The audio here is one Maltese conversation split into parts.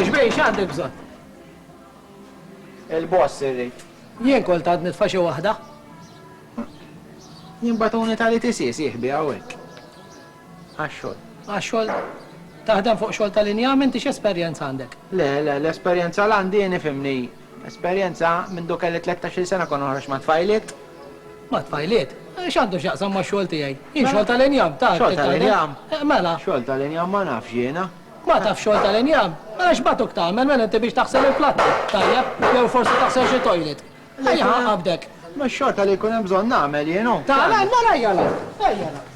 Xbej, x'għandek bżonn? Il-boss irrid. Jien kol tad nitfa' xi waħda. Jien batuni tali tisis jihbi hawnhekk. Għax-xogħol. Għax-xogħol taħdem fuq xogħol tal-injam inti x'esperjenza għandek? Le, le, l-esperjenza l-għandi nifimni Esperjenza, Mindu kelli tlettax-il sena kont noħroġ ma' tfajliet. Ma' tfajliet? X'għandu x'jaqsam max-xogħol tiegħi? Jien xogħol tal-injam, ta' Xogħol tal-injam? Mela. Xogħol tal-injam ma nafx jiena. Ma tafx xogħol tal-injam? Mela x'bagħtuk tagħmel? Mela inti biex taħsel il-platti, tajjeb, jew forsi taħsel xi toilet? Ejja ħa qabdek. Ma x-xorta li jkun hemm bżonn nagħmel jien hu. Ta' l-għan, mela ejja l-għan, ejja l-għan.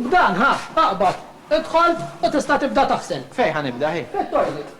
B'dan, ħa, aqbad. Idħol u tista' tibda taħsel. Fejn ħa nibda hi? Fit-toilet.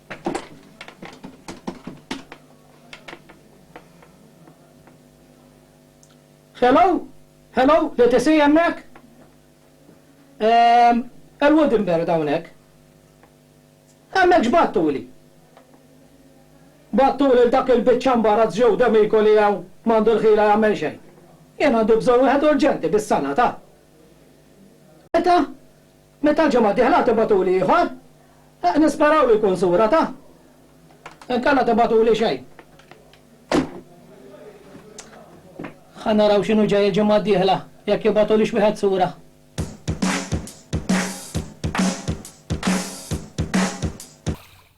Hello? Hello? L-ETC hemmhekk? Ehm, il-Woodenberg hawnhekk. Hemmhekx battuli? Battuli lil dak il-biċċa mbarazz Joe D'Amico li hawn m'għandu l-ħila jagħmel xejn. Jien għandi bżonn wieħed urġenti bis-sala ta'. Meta? Meta l-ġimgħa d-dieħla tibgħatuli ieħor, nisperawlu jkun sura ta'. Inkella tibgħatuli xejn. Ħa naraw x'inhu ġej il-ġimgħa d-dieħla, jekk jibgħatulix wieħed sura.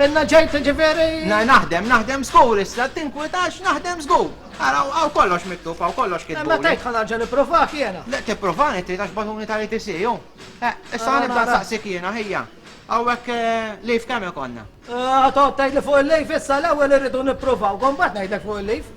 Inna ġejt tiġifieri? Na naħdem, naħdem żgur issa, tinkwitax naħdem żgur. Ara, hawn kollox miktub, hawn kollox kitbuli. Imma tgħid ħa nerġa' nippruvak jiena. Le tippruvani trid għax bagħtuni tal-ITC hu. Eh, issa nibda nsaqsik jiena ħija. Hawnhekk eh, leave kemm ikollna? Eh, ħa toqgħod tgħidli fuq il-leave issa l-ewwel irridu nippruvawk u mbagħad ngħidlek fuq il-leave.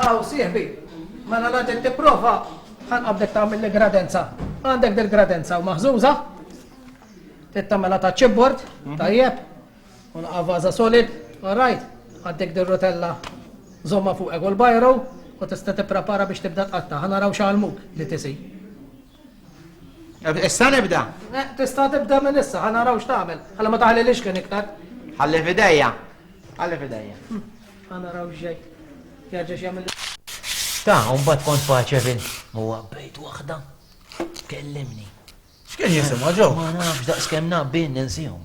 Aw, sieħbi, mela nagħtik tipprova ħa nqabdek tagħmilli gradenza. Għandek dil-gradenza u maħżuża, trid tagħmilha ta' chipboard, mhm. tajjeb, u naqavaża solid, all right, għandek dil-rotella żomma fuq egol bajru, u tista' tipprepara biex tibda tqatta' ħa naraw x'għalmuk li tisi. Issa nibda. Eh, tista' tibda minn issa, ħa naraw x'tagħmel. Ħalla ma taħli lix kien iktar. Ħalli fidejja. Ħalli fidejja. Hm, ħa naraw x'ġej. Jerġa' x'jagħmel. Ta, mbagħad kont faċe fin. Huwa bejt waħda. Kellimni. X'kien jisimha ġew? Ma nafx daqs kemm naqbin ninsihom.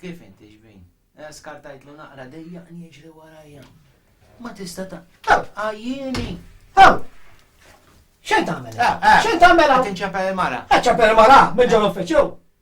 Kif inti xbin? Eh, skartajt lu naqra dejja njiġri warajja. Ma tista ta' għajjini. Għaw! Xejn tagħmel? Eh, eh. Xejn tagħmel? Tinċapel mara. Ċapel mara, minn ġol uffiċċju.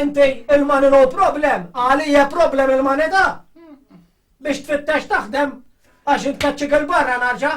Inti il-money no problem, għali hija problem il-money da? Biex tfittex taħdem għax intkeċċik il-barra narġa'.